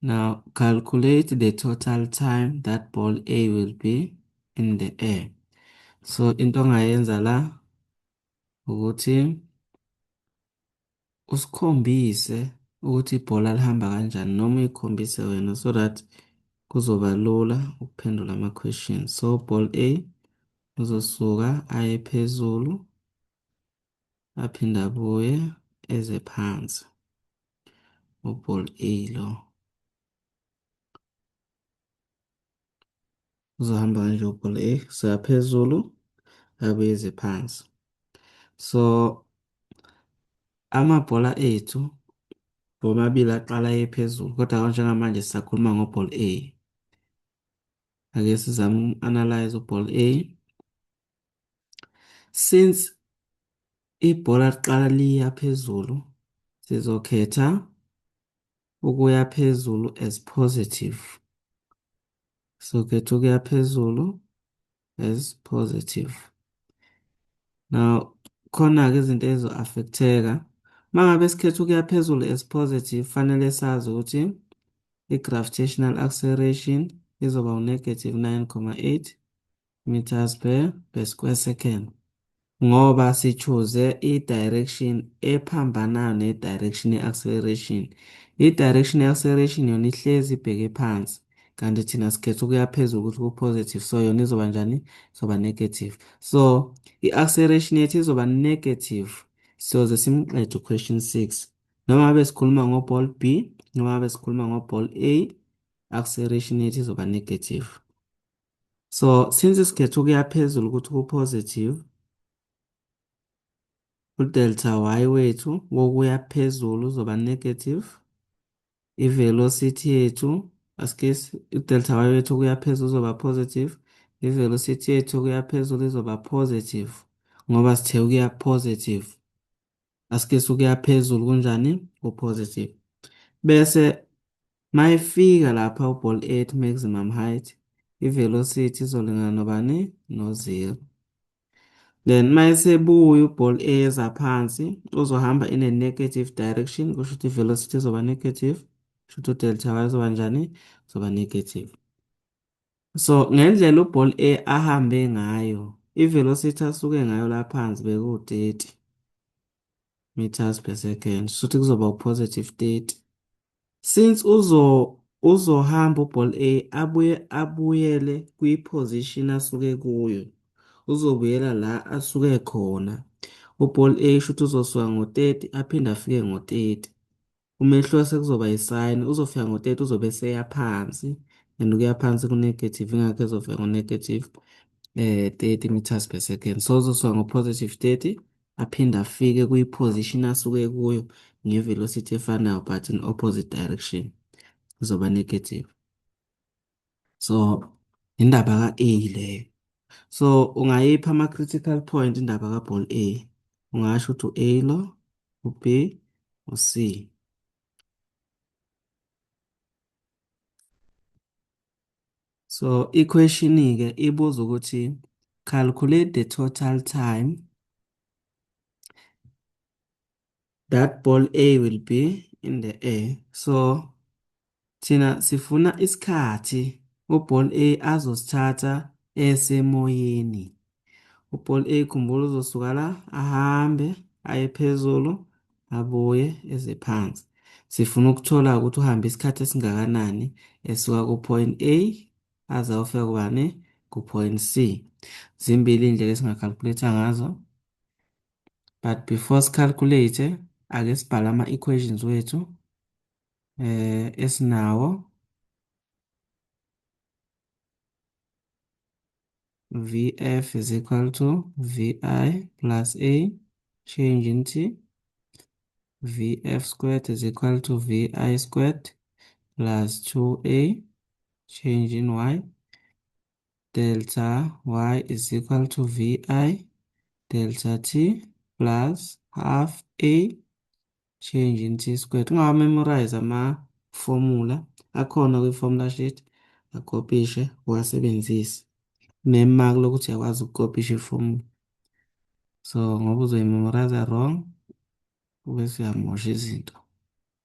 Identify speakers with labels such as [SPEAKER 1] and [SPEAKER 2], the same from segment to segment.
[SPEAKER 1] Now calculate the total time that ball A will be in the air. So into ongayenza la ukuthi usikhombise ukuthi ibhola lihamba kanjani noma uyikhombise wena so that kuzoba lula ukuphendula ama-question. So ball A uzosuka aye phezulu aphinde abuye eze phansi. Uball A lo. Uzohamba kanje uball A kusuka phezulu abuyeze phansi. So amabhola ethu womabili aqala ephezulu kodwa konje ngamanje sisakhuluma ngoball A. Ake sizame uku-analyze uball A. Since ibhola liqala liya phezulu, sizokhetha ukuya phezulu as positive. Sizokhetha ukuya phezulu as positive. Now, khona-ke izinto ezizo-affecteka. Uma ngabe sikhetha ukuya phezulu as positive, fanele sazi ukuthi i-gravitational acceleration izoba u-negative 9,8 meters per per square second ngoba sichuze i-direction ephambanayo ne-direction ye-acceleration i-direction ye-acceleration yona ihlezi ibheke phansi kanti thina sikhetha ukuya phezulu ukuthi ku-positive so yona izoba njani izoba negative so i-acceleration yethu izoba negative siyoze simqede u-question six noma ngabe sikhuluma ngo-ball b noma ngabe sikhuluma ngo-ball a acceleration yethu izoba negative So since isikhetho kuya phezulu ukuthi ku-positive, udelta y wethu wokuya phezulu uzoba negative. I-velocity yethu asike udelta y wethu okuya phezulu uzoba positive. I-velocity yethu okuya phezulu izoba positive ngoba sithe ukuya positive. asike sukuya phezulu kunjani ku-positive bese mayifika lapha u-ball at maximum height i-velocity izolingana nobani no-zero then mayesebuya u-ball eza phansi uzohamba in a negative direction kusho ukuthi i-velocity izoba negative kusho ukuthi u-delta y izoba njani izoba negative So ngendlela uBall A ahambe ngayo, ivelocity asuke ngayo la phansi bekuwu-30 meters per second, shuthi kuzoba u-positive 30. Since uzo uzohamba uBall A abuye abuyele kwi-position asuke kuyo, uzobuyela la asuke khona. UBall A shuthi uzosuka ngo-30 aphinde afike ngo-30. Umehluko sekuzoba yisayini uzofika ngo-30 uzobe eseya phansi and ukuya phansi ku-negative ingakho ezofika ngo-negative eh 30 meters per second so uzosuka ngo-positive 30 aphinde afike kwi-position asuke kuyo nge-velocity efanayo but in opposite direction izoba negative so indaba ka-A leyo so ungayipha ama-critical point indaba ka-ball A ungasho ukuthi u-A lo u-B u-C so ikhweshini-ke ibuza ukuthi calculate the total time that ball A will be in the air so thina sifuna isikhathi uball A azosithatha esemoyeni uball A khumbula uzosuka la ahambe aye phezulu abuye eze phansi sifuna ukuthola ukuthi uhambe isikhathi esingakanani esuka ku-point A aze ayofika kubani ku-point C zimbili iy'ndlela esingakalkuletha ngazo but before sicalculate ake sibhale ama equations wethu eh esinawo VF is equal to VI plus A change into VF squared is equal to VI squared plus 2A change in Y delta y is equal to vi delta t plus half a change in t squared ungawa memorize ama formula akhona kwi formula sheet akopishe uwasebenzise mema lokuthi yakwazi ukukopisha iformula so ngoba uzoyimemorize wrong ube siyamosha izinto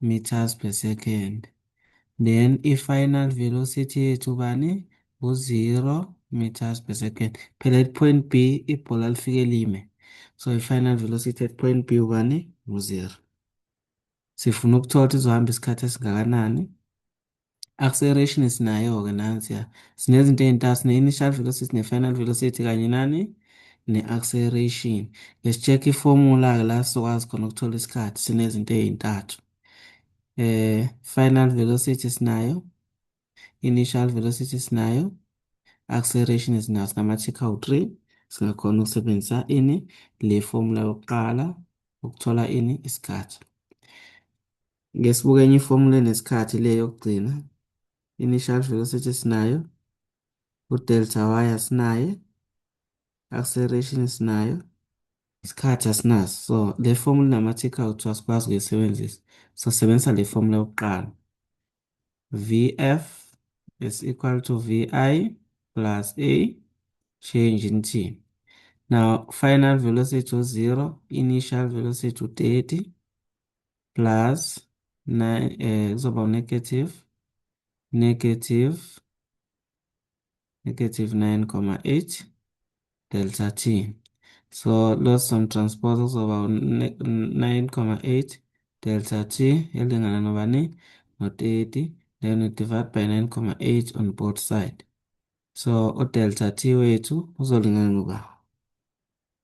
[SPEAKER 1] meters per second then i-final velocity yethu bani u-0 meters per second phela at point b ibhola lifike lime so i-final velocity at point b ubani u-0 sifuna ukuthola ukuthi izohamba isikhathi esingakanani Acceleration sinayo-ke nansiya. Sinezinto ey'ntathu, sine-initial velocity, ne-final velocity kanye nani? Ne-acceleration. Let's check i-formula-ke la sizokwazi khona ukuthola isikhathi sinezinto ey'ntathu. Eh, final velocity sinayo, initial velocity sinayo, acceleration sinayo, sinamathikha awu-three. Singakhona ukusebenzisa ini? Le formula yokuqala ukuthola ini? Isikhathi. Ngesibuka enye ifomula enesikhathi le yokugcina. Initial velocity sinayo. U-delta y asinaye. Acceleration sinayo. Isikhathi asinaso. So le fomula inama-tick out so asikwazi ukuyisebenzisa. Sosebenzisa le fomula yokuqala. Vf is equal to Vi plus A change in T. Now final velocity u-0, initial velocity u-30. plus 9 eh kuzoba negative negative negative 9,8 delta t so loss on transpose kuzoba 9,8 delta t elingana nobani no-30 then we divide by 9,8 on both side so udelta t wethu uzolingana ngoba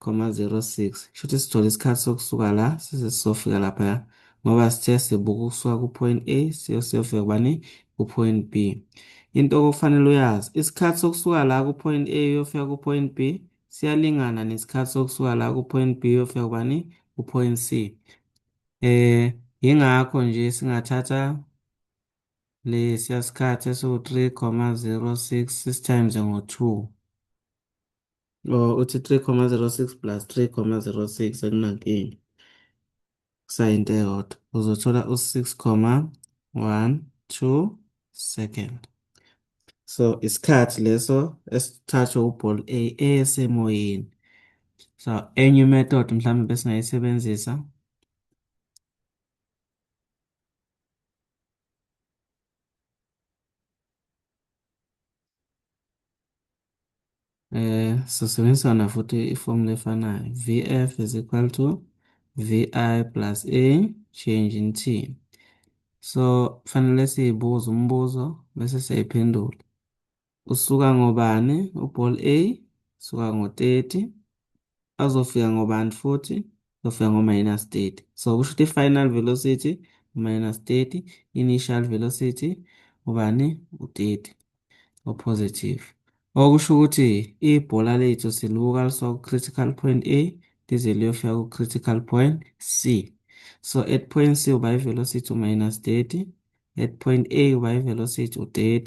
[SPEAKER 1] 0.06 shuthi sithola isikhathi sokusuka la size sizofika lapha ya ngoba sithe sibuka ukusuka ku-point A siyofika kubani ku-point B into okufanele uyazi isikhathi sokusuka la ku-point A uyofika ku-point B siyalingana nesikhathi sokusuka la ku-point B uyofika kubani ku-point C eh yingakho nje singathatha lesiya sikhathi esiwu-3.06 times ngo-2 Oh, uthi 3,06 plus 3,06 akunankinga. Kusayinto eyodwa. Uzothola u-6,12 second. So isikhathi leso esithathwe uball A esemoyeni. So enye method mhlawumbe besingayisebenzisa Eh, sisebenzisana futhi ifomu lefanayo. VF is equal to VI plus A change in T. So, fanele siyibuze umbuzo bese siyayiphendula. Usuka ngobani? Uball A, usuka ngo-30. azofika ngobani futhi uzofika ngo-minus 30 so kusho ukuthi i-final velocity minus 30 initial velocity ubani u-30 opositive okusho ukuthi ibhola lethu silibuka lisuka ku-critical point a lize liyofika ku-critical point c so at point c uba i-velocity u-minus 30 at point a uba i-velocity u-30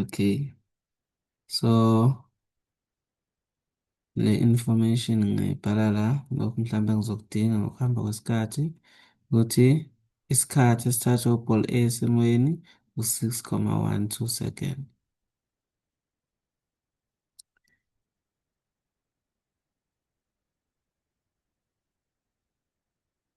[SPEAKER 1] Okay. So le information ngayibhala la lokhu mhlawumbe ngizokudinga ngokuhamba kwesikhathi ukuthi isikhathi esithathwa uball A esimweni u-6,12 second.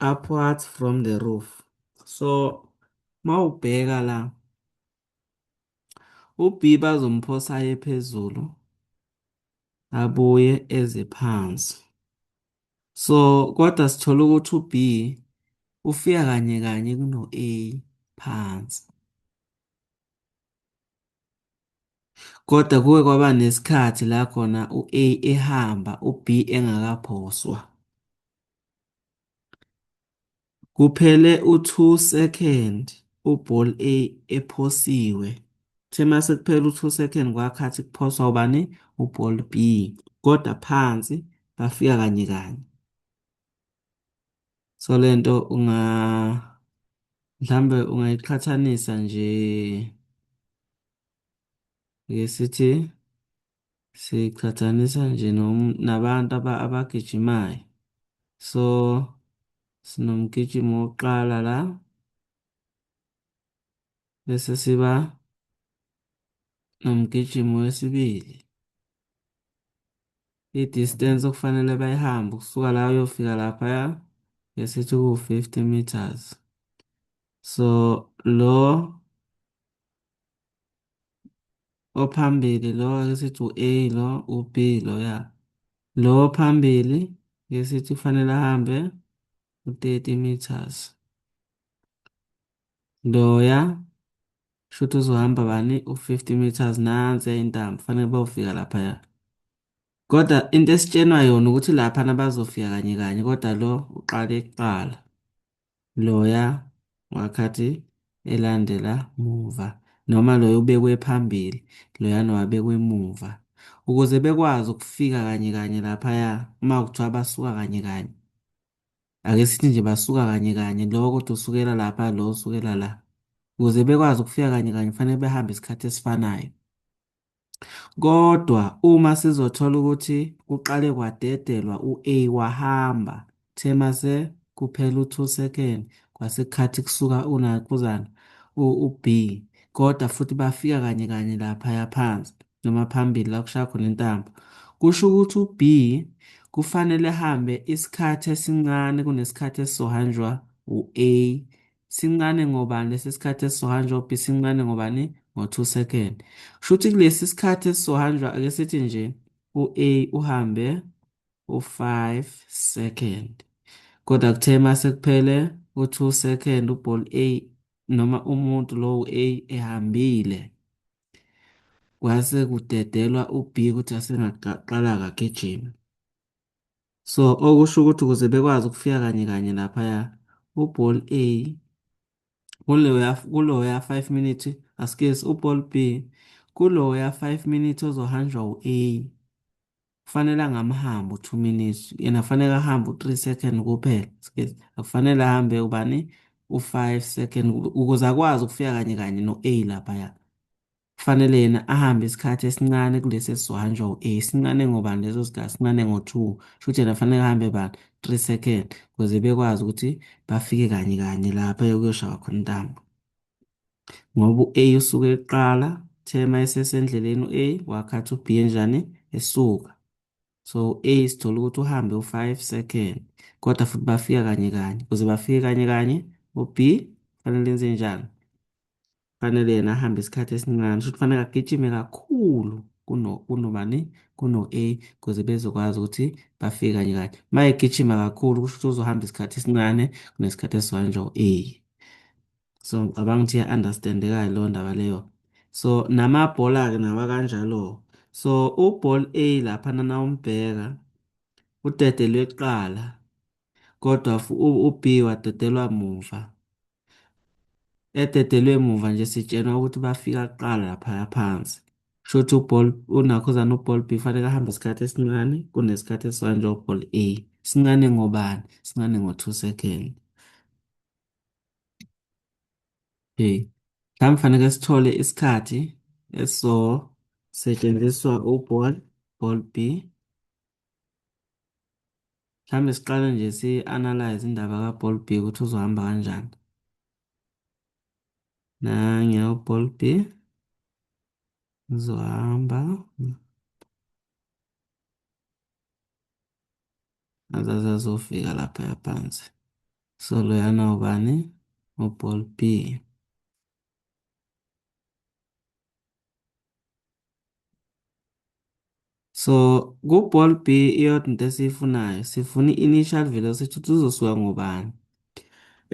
[SPEAKER 1] upwards from the roof so mawubheka la uB bazomphosa aye phezulu abuye eze phansi so kodwa sithola ukuthi uB ufika kanye kanye kuno A phansi kodwa kuke kwaba nesikhathi la khona u-A ehamba u-B engakaphoswa Kuphele u-two second u-ball A ephosiwe. Kuthe uma sekuphele u-two second kwakhathi kuphoswa ubani? U-ball B. Kodwa phansi bafika kanye kanye. So le nto unga mhlambe ungayiqhathanisa nje ngesithi siqhathanisa nje nabantu abagijimayo so sinomgijimo wokuqala la bese siba nomgijimo wesibili i-distance okufanele bayihambe ukusuka la uyofika laphaya ngesithi ku-50 meters so lo ophambili lo ake sithi u-A lo u-B lo ya lo ophambili ke sithi kufanele ahambe u-30 meters loya shuthi uzohamba bani u-50 meters nansi intambo kufanele bawufika laphaya kodwa into esitshenwa yona ukuthi lapha nabazofika kanye kanye kodwa lo uqale kuqala loya wakhathi elandela muva, noma loya ubekwe phambili, loya nowabekwe emuva, ukuze bekwazi ukufika kanye kanye laphaya, uma kuthiwa basuka kanye kanye. Ake sithi nje basuka kanye kanye, lo kodwa usukela lapha, lo usukela la. Ukuze bekwazi ukufika kanye kanye, kufanele behambe isikhathi esifanayo. Kodwa uma sizothola ukuthi kuqale kwadedelwa u-A wahamba, kuthe mase kuphela u-2 second kwasekhathi kusuka unakuzana u-B kodwa futhi bafika kanye kanye laphaya phansi noma phambili la kushaya khona intambo. Kusho ukuthi u-B kufanele hambe isikhathi esincane kunesikhathi esizohanjwa u-A Sincane ngobani lesi sikhathi esizohanjwa uB sincane ngobani? Ngo-2 second. Kusho ukuthi kulesi sikhathi esizohanjwa ake sithi nje u-A uhambe u-5 second. Kodwa kuthe uma sekuphele u-2 second uball A noma umuntu lowo A ehambile. Kwase kudedelwa uB ukuthi asengaqala kagijima. So okusho ukuthi ukuze bekwazi ukufika kanye kanye laphaya uBall A kuloya kuloya 5 minute askes uBall B kuloya 5 minute ozohanjwa uA kufanele angamhambi u2 minutes yena kufanele ahambe u3 second kuphela askes akufanele ahambe ubani u5 second ukuze akwazi ukufika kanye kanye noA laphaya Kufanele yena ahambe isikhathi esincane kulesi esizohanjwa u-A. Sincane ngobani leso sikhathi? Sincane ngo-two. Shuthi yena kufanele ahambe bani? Three second ukuze bekwazi ukuthi bafike kanye kanye lapha yokuyoshaywa khona intambo. Ngoba u-A usuke eqala, uthe uma esesendleleni u-A wakhathi u-B enjani? Esuka. So u-A sithola ukuthi uhambe u-five second kodwa futhi bafika kanye kanye. Ukuze bafike kanye kanye u-B kufanele enze njani? Kufanele yena ahambe isikhathi esincane, shuthi kufanele agijime kakhulu kuno kunobani kuno-A ukuze bezokwazi ukuthi bafike kanye kanye. Uma egijima kakhulu kusho ukuthi uzohamba isikhathi esincane kunesikhathi esizohanjwa u-A. So ngicabanga ukuthi iya-understandeka-ke leyo ndaba leyo. So namabhola-ke nawa kanjalo. So uball A lapha nana umbheka udedelwe kuqala kodwa u-B wadedelwa muva. ededelwe emuva nje sitshenwa ukuthi bafika kuqala laphaya phansi shuthi uball unakhuzana uball b fanele ahambe isikhathi esincane kunesikhathi esanje uball a sincane ngobani sincane ngo-2 second okay mhlawumbe fanele sithole isikhathi esizosetshenziswa uball ball b Mhlawumbe siqale nje si-analyze indaba kaBall B ukuthi uzohamba kanjani. Nange uBall B uzohamba. Azaze azofika lapha yaphansi. So loyana ubani? UBall B. So ku-ball B iyodwa into esiyifunayo sifuna i-initial velocity ukuthi uzosuka ngobani.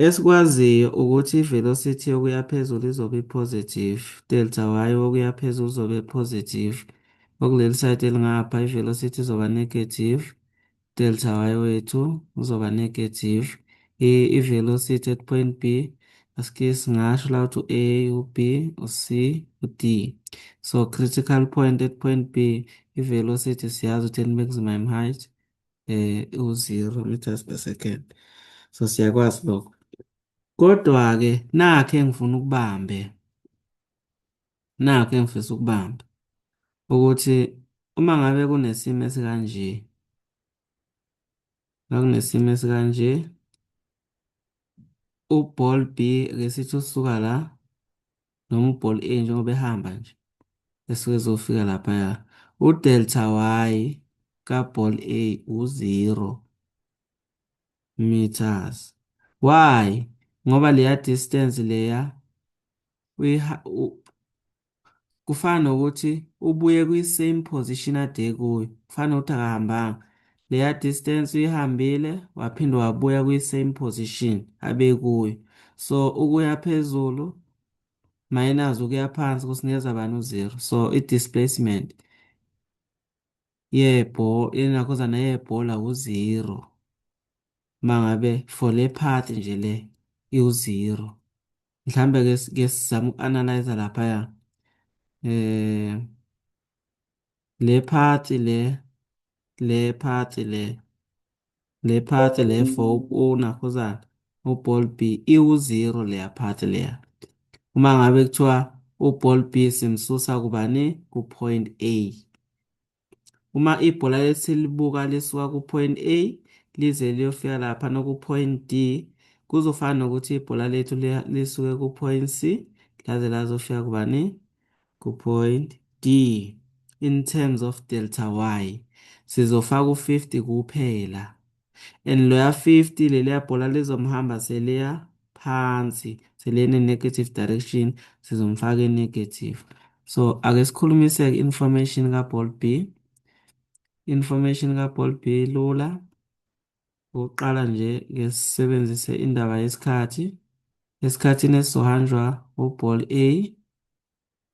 [SPEAKER 1] Esikwaziyo ukuthi i-velocity yokuya phezulu izobe i-positive, delta y wokuya phezulu uzobe i-positive. Okuleli side elingapha i-velocity izoba negative, delta y wethu uzoba negative i-velocity at point b aske singasho la ukuthi u-a u-b u-c u-d so critical point at point b i-velocity siyazi ukuthi in maximum height eh u-zero meters per second so siyakwazi lokho kodwa-ke nakhe engifuna ukubambe Nakho engifisa ukubamba ukuthi uma ngabe kunesimo esikanje ngakunesimo esikanje uball B ke sithi usuka la noma uball A njengoba ehamba nje esuke ezofika lapha ya udelta y kaball A u-0 meters why ngoba leya distance leya kufana nokuthi ubuye kwi-same position ade kuyo kufana nokuthi akahambanga leya distance uyihambile waphinde wabuya kwi-same position abe kuyo so ukuya phezulu minus ukuya phansi kusinikeza bani u-zero so i-displacement yebhola yenakhozana yebhola u-zero mangabe for le path nje le iwu-zero mhlambe ke ke sizama uku-analyze lapha ya eh le part le le part le le part le for unakhuzana uball b iwu-zero leya part leya uma ngabe kuthiwa uball b simsusa kubani ku-point a uma ibhola lethu selibuka lisuka ku-point A lize liyofika lapha noku-point D kuzofana nokuthi ibhola lethu lisuke ku-point C laze lazofika kubani ku-point D in terms of delta y sizofaka u-50 kuphela and loya 50 leliya bhola lizomhamba seliya phansi selene negative direction sizomfaka negative so ake sikhulumise ke information ka ball B information ka ball B lula ukuqala nje ke sisebenzise indaba yesikhathi esikhathini esizohanjwa u ball A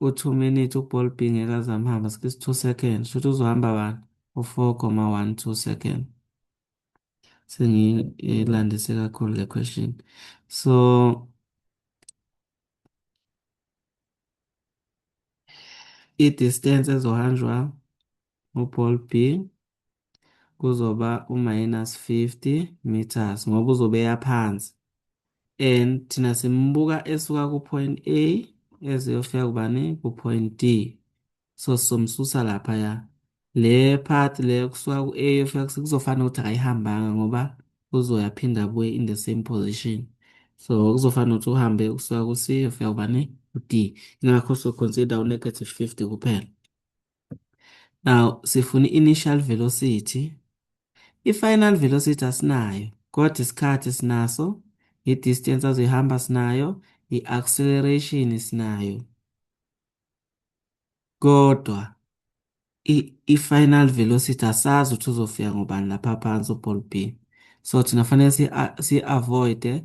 [SPEAKER 1] U two minute u ball being ekazami hamba skis two second shuthi uzohamba bani u four comma one two second sengilandise kakhulu le question so i distance ezohanjwa u-ball B kuzoba u-minus 50 meters ngoba uzobe eya phansi and thina simbuka esuka ku-point A eziyofika kubani ku-point D so sizomsusa lapha ya le part le kusuka ku-A yofika kuzofana ukuthi akayihambanga ngoba uzoya phinda abuye in the same position so kuzofana ukuthi uhambe kusuka ku-C yofika kubani ku-D ingakho so consider u-negative 50 kuphela Now sifuna i-initial velocity. I-final velocity asinayo, kodwa isikhathi sinaso, i-distance azoyihamba sinayo, i-acceleration sinayo. Kodwa i-final velocity asazi ukuthi uzofika ngobani lapha phansi uball pin. So thina fanele si-avoide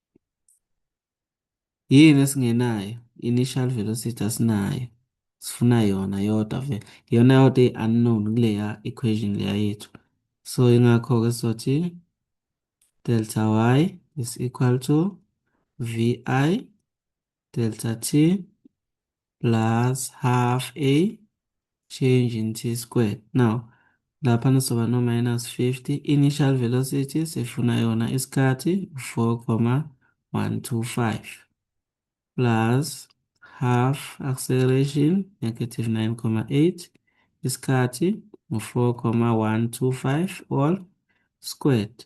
[SPEAKER 1] yini esingenayo initial velocity asinayo sifuna yona yodwa vele yona yodwa i-unknown kuleya equation leya yethu so ingakho-ke sizothi delta y is equal to vi delta t plus half a change in t squared. Now, lapha nizoba no minus 50. Initial velocity sifuna yona isikhathi 4,125 plus half acceleration negative 9,8 isikhathi 4,125 all squared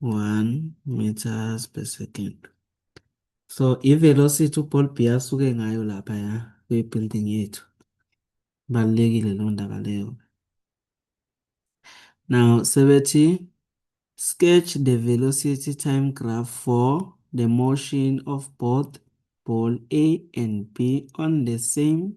[SPEAKER 1] 1 meters per second. So i-velocity uBall B asuke ngayo lapha ya kwi-building yethu. Balekile lo ndaba leyo. Now sebethi sketch the velocity time graph for the motion of both ball A and B on the same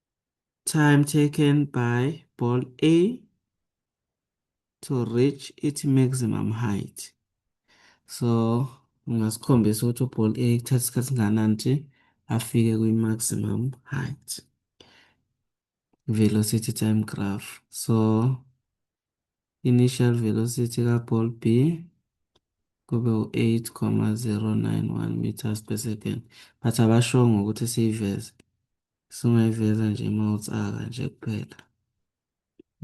[SPEAKER 1] time taken by ball A to reach its maximum height. So ungasikhombisa ukuthi uball A kuthatha isikhathi singanani nje afike kwi-maximum height velocity time graph. So initial velocity ka-ball B kube u-8,091 meters per second but abashongo ukuthi siyiveze singayiveza nje uma utsaka nje kuphela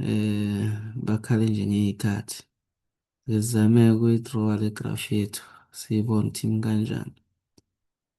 [SPEAKER 1] eh bakhale nje ngey'khathi ngizame ukuyi-drawa le graph yethu siyibone ukuthi imi kanjani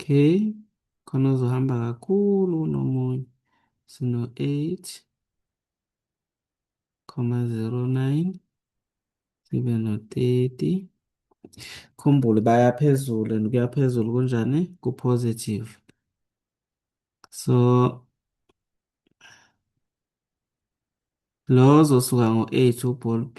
[SPEAKER 1] Okay, khona uzohamba kakhulu kunomunye. Sino 8 comma 09 sibe no 30. Khumbule baya phezulu and kuya phezulu kunjani ku positive. So lo ozosuka ngo-8 uball B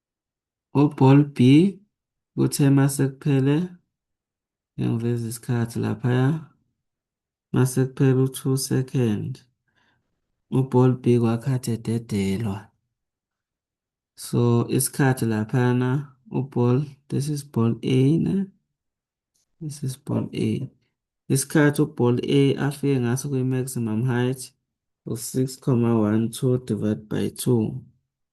[SPEAKER 1] UBall B uthe mase kuphele ngiyangiveza isikhathi laphaya mase kuphele u-two second uBall B kwakhathi ededelwa so isikhathi laphana uBall this is Ball A ne this is Ball A isikhathi uBall A afike ngaso kwi-maximum height u-6,12 divided by 2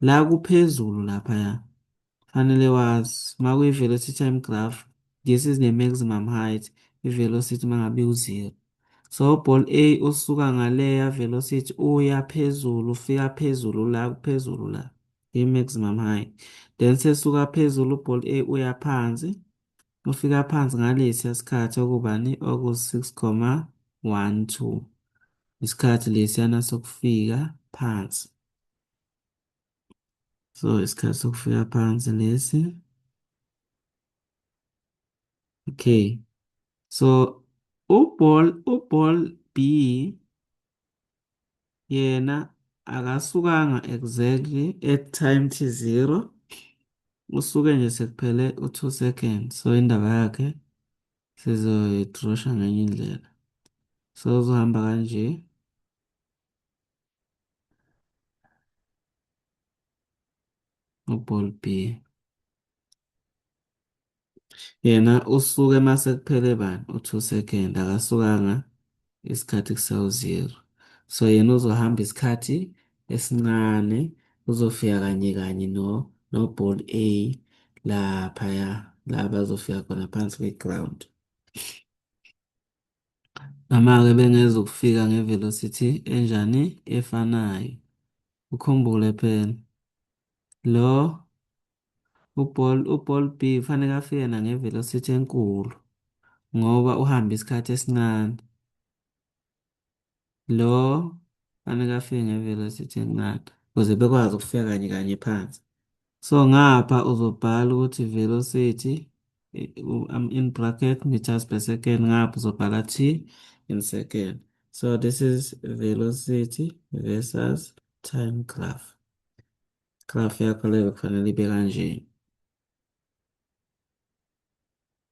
[SPEAKER 1] La kuphezulu laphaya fanele wazi uma kuyi-velocity time graph this is the maximum height i-velocity uma ngabe iwu-zero so ball a usuka ngaleya velocity uya phezulu ufika phezulu la kuphezulu la i-maximum height then sesuka phezulu ball a uya phansi ufika phansi ngalesiya sikhathi okubani oku-six comma one two isikhathi lesiyana sokufika phansi So isikhathi sokufika phansi lesi. Okay. So uball uball B yena akasukanga exactly at time t 0 usuke nje sekuphele u2 seconds so indaba yakhe sizoyitrosha ngenye indlela so uzohamba kanje uball B yena usuke mase kuphele bani u2 second akasukanga isikhathi kusawu 0 so yena uzohamba isikhathi esincane uzofika kanye kanye no no ball A lapha ya la bazofika khona phansi kwe ground Noma-ke bengezukufika nge-velocity enjani efanayo. Ukhumbule phela lo uball uball B kufanele afike na nge-velocity enkulu ngoba uhamba isikhathi esincane. lo fanele afike nge-velocity encane ukuze bekwazi ukufika kanye kanye phansi so ngapha uzobhala ukuthi velocity I'm in bracket meters per second ngapha uzobhala t in second so this is velocity versus time graph graph yakho leyo kufanele ibe kanjena